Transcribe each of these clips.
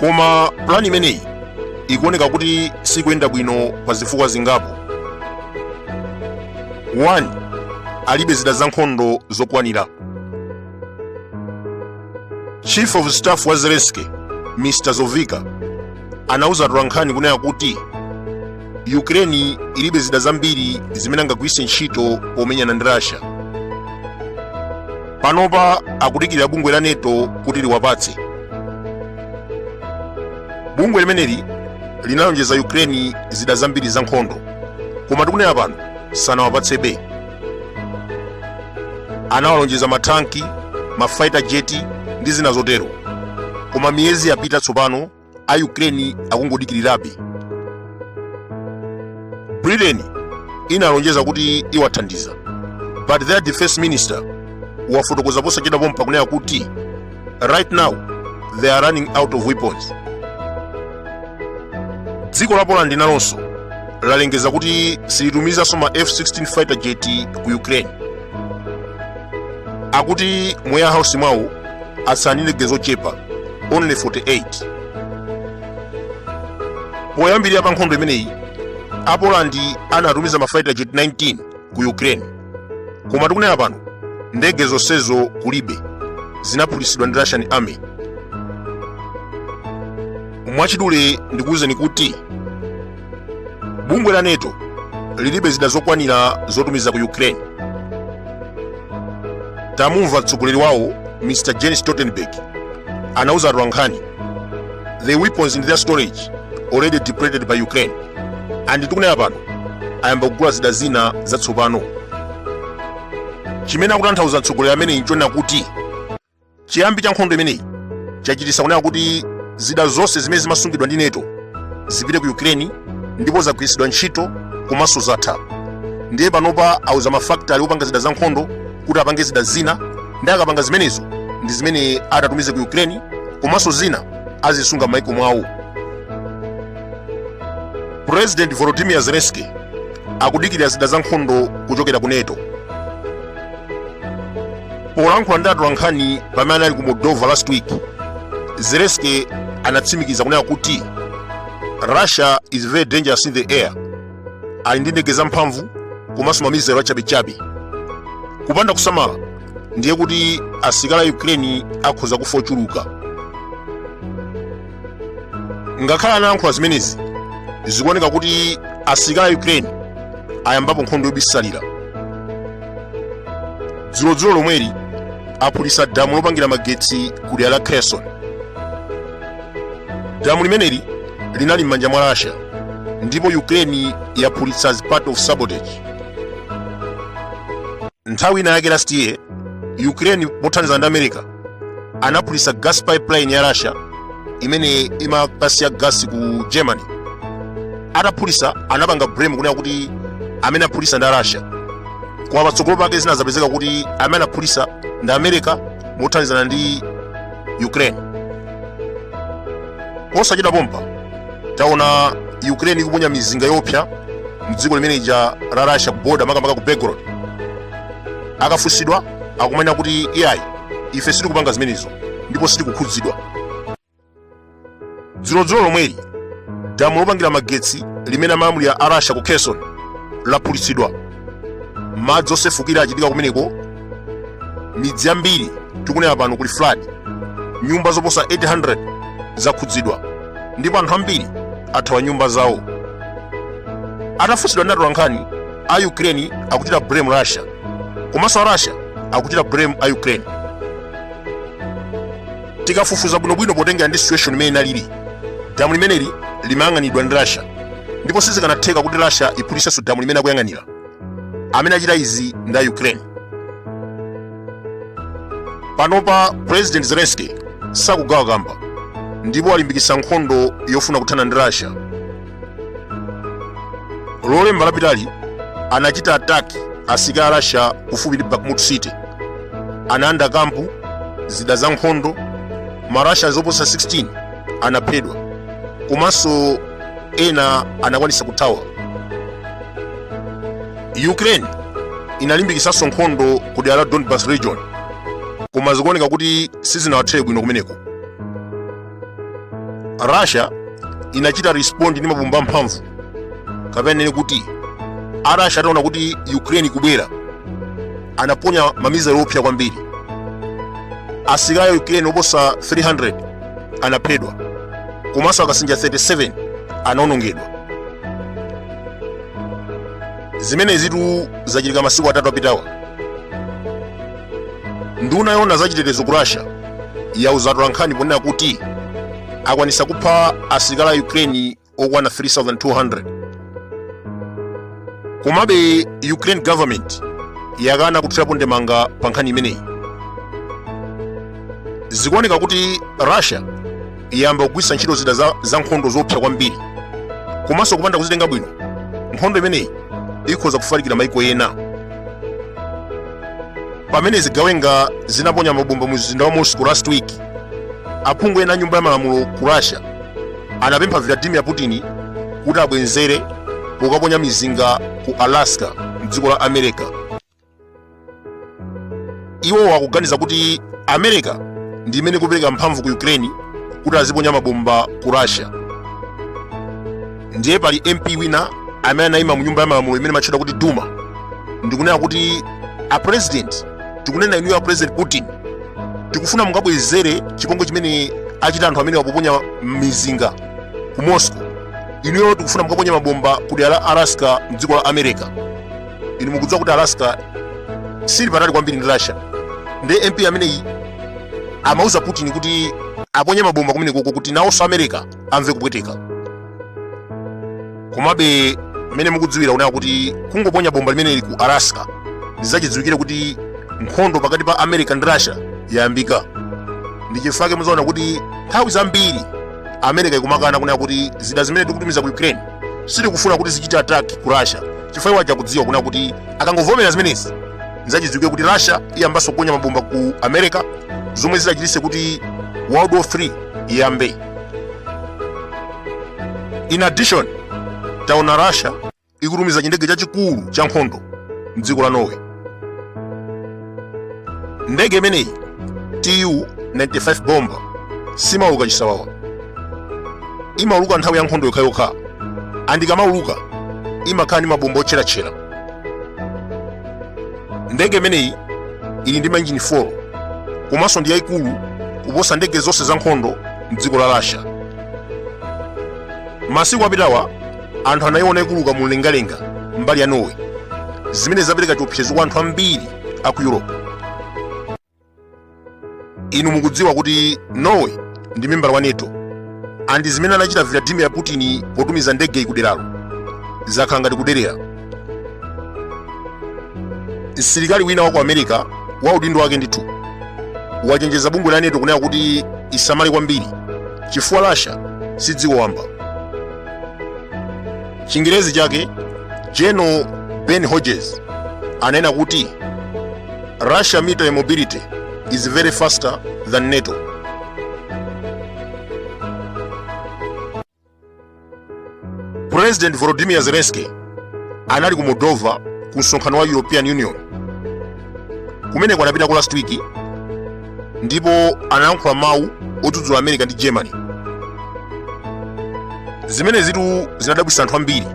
koma pulani imeneyi ikuoneka kuti sikuyenda bwino pa zifukwa zingapo 1 alibe zida za nkhondo zokwanira chief of staff wa zelensky mr zhovkva anauza atolankhani kunena kuti ukraine ilibe zida zambiri zimene angagwiritse ntchito pomenyana ndi russia panopa akudikirira bungwe la neto kuti liwapatse bungwe limeneli linalonjeza ukraine zida zambiri za nkhondo koma tikunena pano sanawapatsebe anawalonjeza mathanki mafaita jeti ndi zina zotero koma miyezi yapita tsopano a ukraine akungodikirirabe britain inalonjeza kuti iwathandiza but their defense minister wafotokoza posachedwa pompano kunena kuti right now they are running out of weapons dziko la poland nalonso lalengeza kuti silitumizanso ma f-16 fighter jet ku ukraine akuti mu warehouse mwawo atsala ndi ndege zochepa only 48 poyambirira pa nkhondo imeneyi apolandi anatumiza mafighter jet 19 ku ukraine koma tikunena pano ndege zonsezo kulibe zinaphulitsidwa ndi russian army mwachidule ndikuwuzeni kuti bungwe la nato lilibe zida zokwanira zotumiza ku ukraine tamumva mtsogoleri wawo mr jens stoltenberg anauza atolankhani the weapons in their storage already depleted by ukraine and tikunena pano ayamba kugula zida zina zatsopano chimene akutanthauza mtsogoleri ameneyi nchonena kuti chiyambi cha nkhondo imeneyi chachititsa kunena kuti zida zonse zimene zimasungidwa ndi neto zipite ku ukraine ndipo zagwiritsidwa ntchito komanso zatha ndiye panopa auza mafakitale opanga zida za nkhondo kuti apange zida zina nde akapanga zimenezo ndi zimene atatumize ku ukraine komanso zina azisunga m'maiko mwawo president volodymyr zelensky akudikirira zida za nkhondo kuchokera ku neto polankhula ndi atolankhani pamene anali ku moldova last week zelensky anatsimikiza kunena kuti russia is very dangerous in the air ali ndi ndege zamphamvu komanso mamizelo achabechabe kupanda kusamala ndiye kuti asilikali a ukraine akhoza kufa ochuluka ngakhale anayankhula zimenezi zikuoneka kuti asilikali a ukraine ayambapo nkhondo yobisalira dzulodzulo lomweli aphulisa damu lopangira magetsi ku dera la kherson damu limeneli linali m'manja mwa russia ndipo ukraine yaphulitsa as part of sabotage nthawi ina yake last year ukraine pothandizana ndi america anaphulisa gas pipeline ya russia imene imakasiya gas ku germany ataphulisa anapanga blame kunena kuti amene aphulisa ndi russia koma patsogolo pake zinazapezeka kuti amene anaphulisa ndi america mothandizana ndi ukraine posachedwa pompa taona ukraine ikuponya mizinga yopsa mdziko limene lija la russia ku border makamaka ku belgorod akafunsidwa akumanena kuti iyayi ife sitikupanga zimenezo ndipo sitikukhudzidwa dzulodzulo lomweli damu lopangira magetsi limene amalamulira a russia ku kherson laphulitsidwa madzi osefukira achitika kumeneko midzi yambiri tikunena pano kuli flood nyumba zoposa 800 zakhudzidwa ndipo anthu ambiri athawa nyumba zawo atafunsidwa ndi atolankhani a ukraine akuchita blame russia komanso a russia akuchita blame a ukraine tikafufuza bwinobwino potengera ndi situation imene inalili damu limeneli limayang'anidwa ndi russia ndipo sizikanatheka kuti russia iphulitsenso damu limene akuyang'anira amene achita izi ndi a ukraine panopa president zelensky sakugwa mkamba ndipo walimbikitsa nkhondo yofuna kuthana ndi russia lolemba lapitali anachita attack asilikali a russia kufupi ndi bakhmut city analanda camp zida za nkhondo marussia oposa 16 anaphedwa komanso ena anakwanisa kuthawa ukraine inalimbikisanso nkhondo ku dera la donbas region koma zikuoneka kuti sizinawathere bwino kumeneko russia inachita respond ndi mabomba amphamvu kapena tinene kuti a russia ataona kuti ukraine ikubwera anaponya ma missile oopsa kwambiri asilikali a ukraine oposa 300 anaphedwa komanso akasinja 37 anaonongedwa zimenezitu zachitika masiku atatu apitawa nduna yoona za chitetezo ku russia yauza atolankhani ponena kuti akwanisa kupha asilikali a ukraine okwana 3200 komabe ukraine government yakana kuthirapo ndemanga pa nkhani imeneyi zikuoneka kuti russia yayamba kugwiritsa ntchito zida za, za nkhondo zoopsa kwambiri komanso kupanda kuzitenga bwino nkhondo imeneyi ikhoza kufalikira mayiko ena pamene zigawenga zinaponya mabomba mu mzinda wa moscow last week aphungu ena a nyumba ya malamulo ku russia anapempha vladimir putin kuti abwezere pokaponya mizinga ku alaska mdziko la america iwo akuganiza kuti america ndi imene ikupereka mphamvu ku ukraine kuti aziponya mabomba ku russia ndiye pali mp wina amene anayima mu nyumba ya malamulo imene imatchedwa kuti duma ndikunena kuti a president tikunena inuyo a president putin tikufuna mukabwezere chipongwe chimene achita anthu amene akuponya mizinga ku moscow inuyo tikufuna mukaponye mabomba ku dera la alaska mdziko la america inu mukudziwa kuti alaska siili patali kwambiri ndi russia ndi mp ameneyi amauza putin kuti aponye mabomba kumenekoko kuti nawonso america amve kupweteka komabe mmene mukudziwira kunena kuti kungoponya bomba limeneli ku alaska ndizachidziwikire kuti nkhondo pakati pa america ndi russia yayambika ndi chifukwa chake mudzaona kuti nthawi zambiri america ikumakana kunena kuti zida zimene tikutumiza ku ukraine sitikufuna kuti zichite attack ku russia chifukwa iwo akudziwa kunena kuti akangovomera zimenezi nzachidziwikire kuti russia iyambanso kuponya mabomba ku america zomwe zidzachititse kuti world war 3 iyambe in addition taona russia ikutumiza chindege chachikulu cha nkhondo mdziko la norway ndege imeneyi tu 95 bomber siimauluka chisawawa imauluka nthawi ya nkhondo yokhayokha and ikamauluka imakhala ndi mabomba otcheratchera ndege imeneyi ili ndi mainjini 4 komanso ndi yayikulu kuposa ndege zonse za nkhondo mdziko la russia masiku apitawa anthu anayiona ikuluka mu mlengalenga mmbali mwa norway zimene zapereka chiopsezo kwa anthu ambiri a ku europe inu mukudziwa kuti norway ndi membala wa nato and zimene anachita vladimir putin potumiza ndegeyi kuderalo zakhala ngati kuderera msilikali wina wa ku america wa udindo wake ndithu wachenjeza bungwe la nato kunena kuti isamale kwambiri chifukwa russia si dziko wamba chingerezi chake general ben hodges anena kuti russia military mobility is very faster than nato president volodymyr zelensky anali ku moldova ku msonkhano wa european union kumeneko anapita ku last week ndipo anayankhula mawu odzudzula america ndi germany zimene zitu zinadabwisa anthu ambiri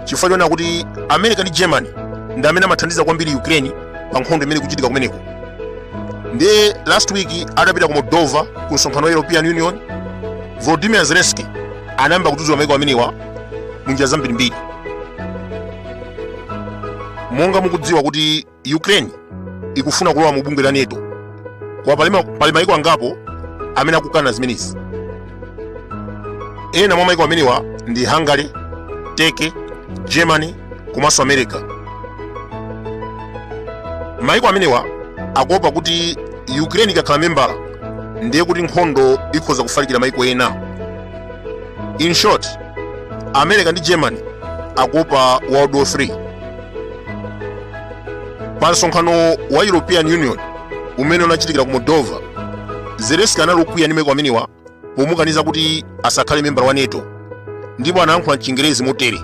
chifukwa choona kuti america ndi germany ndi amene amathandiza kwambiri ukraine pa nkhondo imene ikuchitika kumeneko ndiye last week atapita ku moldova ku msonkhano wa european union volodimir zelenski anayamba kudzudzula maiko amenewa mu njira zambirimbiri monga mukudziwa kuti Ukraine ikufuna kulowa mu bungwe la NATO koma pali ma- pali maiko angapo amene akukana zimenezi ena mwa maiko amenewa ndi hungary turkey germany komanso america maiko amenewa akuopa kuti ukraine ikakhala membala ndiye kuti nkhondo ikhoza kufalikira maiko ena in short america ndi germany akuopa world war 3 pa msonkhano wa european union umene unachitikira ku moldova zelenski anali okwiya ndi maiko amenewa pomukaniza kuti asakhale membala wa nato ndipo anayankhula mchingerezi motere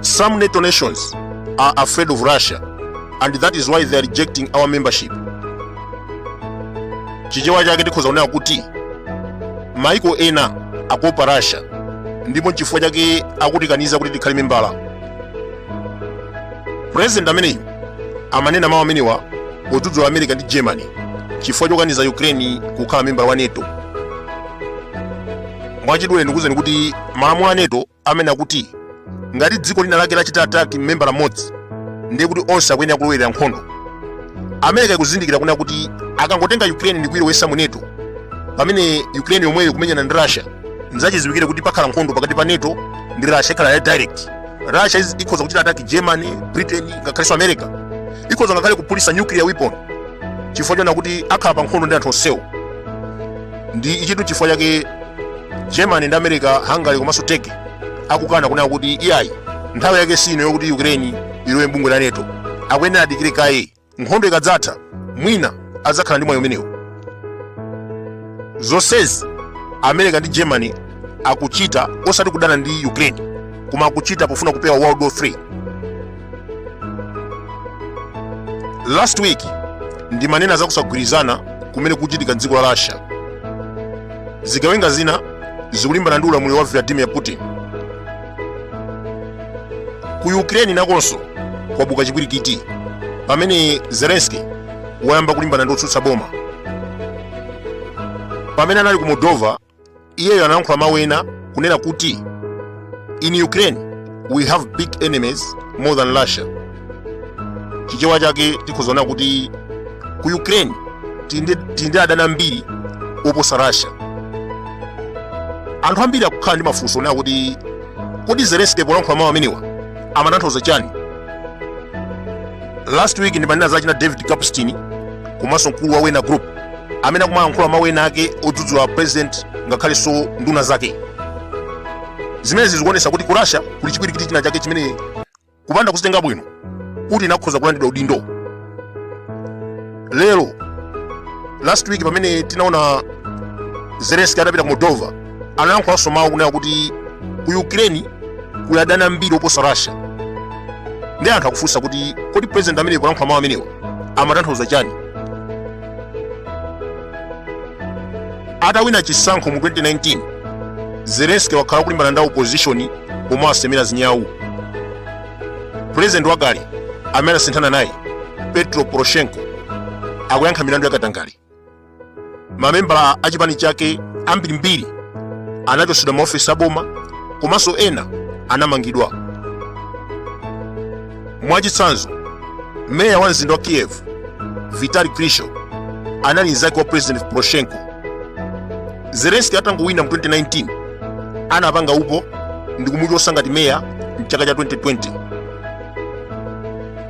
some nato nations are afraid of russia and that is why they are rejecting our membership chichewa chake tikhoza kunena kuti maiko ena akuopa russia ndipo nchifukwa chake akutikaniza kuti tikhale membala president ameneyu amanena mawu amenewa podzudzula america ndi germany chifukwa chokaniza ukraine kukhala membala wa nato mwachidule ndikuuzeni kuti malamulo a nato amanena kuti ngati dziko lina lake lachita attack membala mmodzi ndiye kuti onse akuyenera kulowerera nkhondo america ikuzindikira kunena kuti akangotenga ukraine ndi kuilowesa mu nato pamene ukraine yomweyo ikumenyana ndi russia nzachidziwikire kuti pakhala nkhondo pakati pa nato ndi russia ikhala ya direct russia iz- ikhoza kuchita attack germany britain ngakhalenso america ikhoza ngakhale kuphulisa nuclear weapon chifukwa choona kuti akhala pa nkhondo ndi anthu onsewo ndiye ichitu chifukwa chake germany ndi america hungary komanso turkey akukana kunena kuti iyayi nthawi yake si ino yokuti ukraine ilowe mbungwe la nato akuyenera adikire kaye nkhondo ikadzatha mwina adzakhala ndi mwayi umenewo zonsezi america ndi germany akuchita osati kudana ndi ukraine koma akuchita pofuna kupewa world war 3 last week ndimanena za kusagwirizana kumene kukuchitika mdziko la russia zigawenga zina zikulimbana ndi ulamuliro wa vladimir putin ku ukraine nakonso kwabuka chipwirikiti pamene zelenski wayamba kulimbana ndi otsutsa boma pamene anali ku moldova iyeyo anayankhula mawu ena kunena kuti in ukraine we have big enemies more than russia chichewa chake tikuzaona kuti ku ukraine tili ndi adani ambiri oposa russia anthu ambiri akukhala ndi mafunso onena kuti kodi zelenski polankhula mawu amenewa amatanthauza chani last week ndimanena za za David Kapustin komanso mkulu wa Wagner group amene akumalankhula mawu ena ake odzudzula president ngakhalenso nduna zake zimenezi zikuonesa kuti ku russia kuli chipwirikiti china chake chimene kupanda kuzitenga bwino Putin akhoza kulandidwa udindo lero last week pamene tinaona zelenski atapita ku moldova analankhulanso mawu kunena kuti ku ukraine kuli adani ambiri oposa russia ndiye anthu akufunsa kuti kodi president ameneyu kulankhula mawu amenewa amatanthauza chani atawina chisankho mu 2019 zelenski wakhala akulimbana ndi opposition pomwe asemera zinyawu pulezidenti wakale amene anasinthana naye petro poroshenko akuyankha milandu yakatangale mamembala a chipani chake ambirimbiri anachotsedwa maofesi aboma komanso ena anamangidwa mwachitsanzo meya wa mzinda wa kiev vitali klitschko anali mnzake wa president poroshenko zelenski atangowina mu 2019 anapanga upo ndi kumuchotsa ngati meya mchaka cha 2020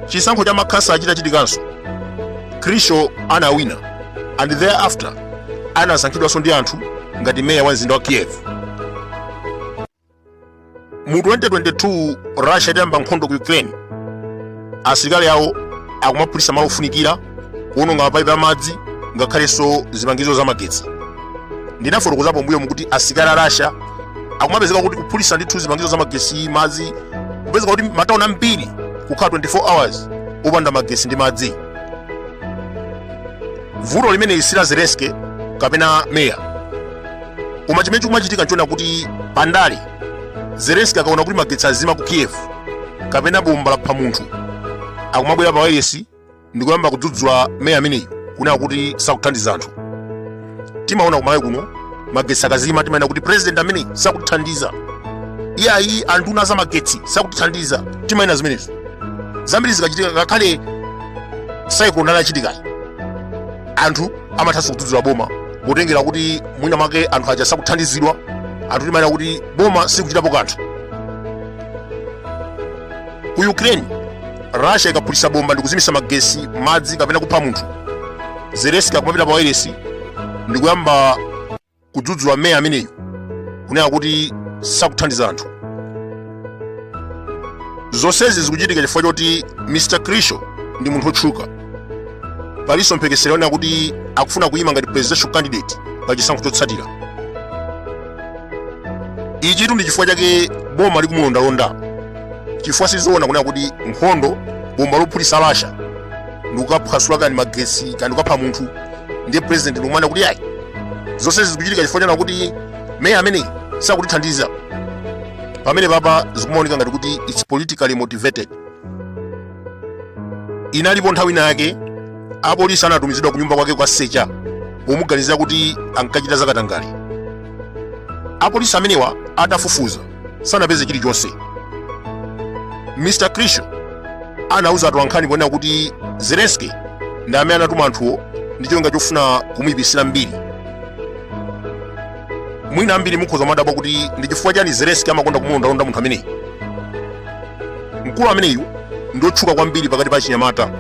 chisankho cha makhansala chitachitikanso klitschko anawina and thereafter anasankhidwanso ndi anthu ngati meya wa mzinda wa kiev mu 2022 russia itayamba nkhondo ku ukraine asilikali awo akumaphulitsa malo ofunikira kuononga mapaipi amadzi ngakhalenso zipangizo za magetsi ndinafotokoza m'mbuyomu kuti asilikali a russia akumapezeka kuti kuphulitsa ndithu zipangizo za magetsi madzi kupezeka kuti matauni ambiri kukhala 24 hours opanda magetsi ndi madzi vuto limeneli si la zelenski kapena meya koma chimene chikumachitika nchonena kuti pandale zelenski akaona kuti magetsi azima ku kiev kapena bomba lapha munthu akumabwera pa wailesi ndikuyamba kudzudzula meya ameneyi kunena kuti sakuthandiza anthu timaona kumalawi kuno magetsi akazima timanena kuti president ameneyi sakutithandiza iyayi anduna za magetsi sakutithandiza timanena zimenezo zambiri zikachitika ngakhale cyclone yachitikayi anthu amathanso kudzudzula boma potengera kuti mwina mwake anthu aja sakuthandizidwa anthu timanena kuti boma sikuchitapo kanthu ku ukraine russia ikaphulitsa bomba ndikuzimitsa magetsi madzi kapena kupha munthu zelenski akumapita pa wailesi ndikuyamba kudzudzula meya ameneyu kunena kuti sakuthandiza anthu zonsezi zikuchitika chifukwa choti mr klitschko ndi munthu otchuka palinso mphekesera yonena kuti akufuna kuyima ngati presidential candidate pa chisankho chotsatira ichitu ndi chifukwa chake boma likumulondalonda chifukwa sizoona kunena kuti nkhondo bomba lophulitsa russia ndikukaphwasula kani magetsi kani ndikukapha munthu ndiye president ndikumanena kuti ayi zonse zikuchitika chifukwa chonena kuti meya ameneyi sakutithandiza pamenepapa zikumaoneka ngati kuti its politically motivated inalipo nthawi ina yake apolisi anatumizidwa ku nyumba kwake kukasecha pomuganizira kuti ankachita zakatangale apolisi amenewa atafufuza sanapeze chilichonse mr klitschko anauza atolankhani kunena kuti zelenski ndi amene anatuma anthuwo ndi cholinga chofuna kumuyipitsira mbiri mwina ambiri mukhoza kumadabwa kuti ndi chifukwa chani zelenski amakonda kumulondalonda munthu ameneyi mkulu ameneyu ndi otchuka kwambiri pakati pa achinyamata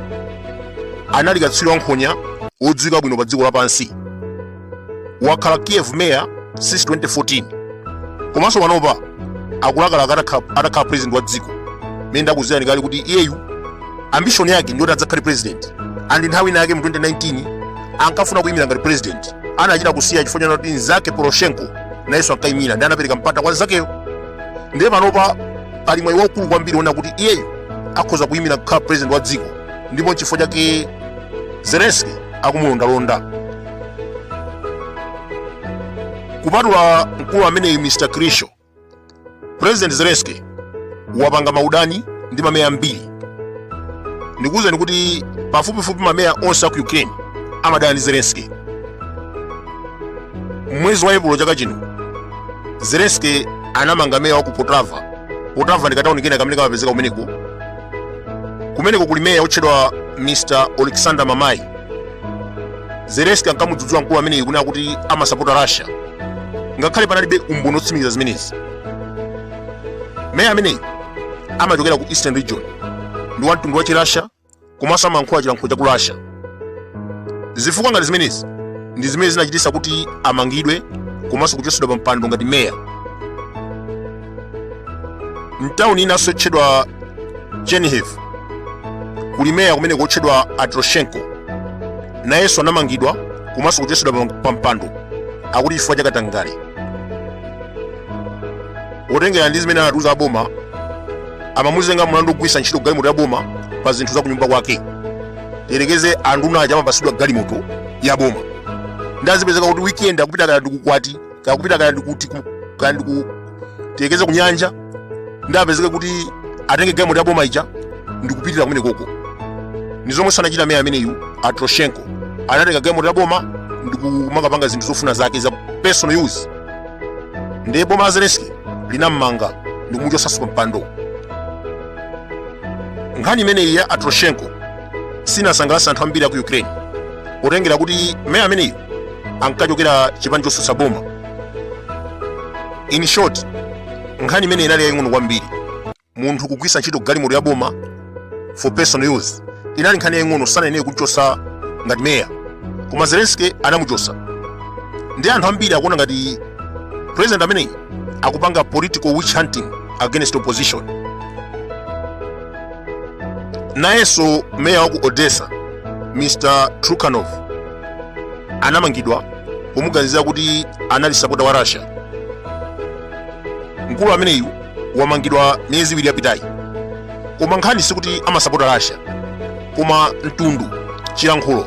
anali katswiri wankhonya wodziwika bwino pa dziko lapansi wakhala kiev mayor since 2014 komanso panopa akulakalaka atakha- atakhala president wa dziko mene ndakuwuzirani kale kuti iyeyu ambition yake ndiyoti adzakhale president and nthawi ina yake mu 2019 ankafuna kuyimira ngati president anachita kusiya chifukwa chonena kuti nzake poroshenko nayenso ankayimira ndiye anapereka mpata kwa nzakeyo ndiye panopa pali mwayi waukulu kwambiri wonena kuti iyeyu akhoza kuyimira kukhala president wa dziko ndipo nchifukwa chake zelenski akumulondalonda kupatula mkulu ameneyu mr klitschko president zelensky wapanga maudani ndi mameya ambiri ndikuwuzeni kuti pafupifupi mameya onse aku ukraine amadana ndi zelensky mwezi wa epulo chaka chino zelensky anamanga meya wa ku poltava poltava ndi katawuni kena kamene kamapezeka kumeneko kumeneko kuli meya otchedwa mr oleksandr mamai zelenski ankamudzudzula mkulu ameneyu kunena kuti amasapota russia ngakhale panalibe umboni otsimikiza zimenezi meya ameneyu amachokera ku eastern region ndi wamtundu wa chirasha komanso amayankhula chilankhulo cha ku russia zifukwa ngati zimenezi ndi zimene zinachititsa kuti amangidwe komanso kuchotsedwa pa mpando ngati meya mtawuni inanso yotchedwa chernihiv kuli meya kumeneko otchedwa atroshenko nayenso anamangidwa komanso kuchotsedwa pa mpando akuti chifukwa chakatangale potengera ndi zimene anatiuza aboma amamuzenga mlandu wogwiritsa ntchito galimoto ya boma pa zinthu za kunyumba kwake tiyerekeze anduna aja amapasidwa galimoto ya boma ndiye zipezeke kuti weekend akupita kaya ndi ku ukwati kaya kupita kaya ndikuti ku- kaya ndiku tiyerekeze kunyanja ndiye apezeke kuti atenge galimoto ya boma ija ndikupitira kumene koko ni zomwenso anachita meya ameneyu atroshenko anatenga galimoto ya boma ndikumakapanga zinthu zofuna zake za personal use ndiye boma la zelensky linammanga ndikumuchotsanso pa mpando nkhani imeneyi ya atroshenko sinasangalatsa anthu ambiri aku ukraine potengera kuti meya ameneyu ankachokera chipani chosutsa boma in short nkhani imeneyi inali yaying'ono kwambiri munthu kugwisa ntchito galimoto ya boma for personal use inali nkhani yaying'ono sanayenere kumchosa ngati meya koma zelensky anamuchosa ndi anthu ambiri akuona ngati president ameneyi akupanga political witch hunting against opposition nayenso meya wa ku odessa mr trukhanov anamangidwa pomuganizira kuti anali sapota wa russia mkulu ameneyu wamangidwa miyezi iwiri yapitayi koma nkhani sikuti amasapota russia koma mtundu chilankhulo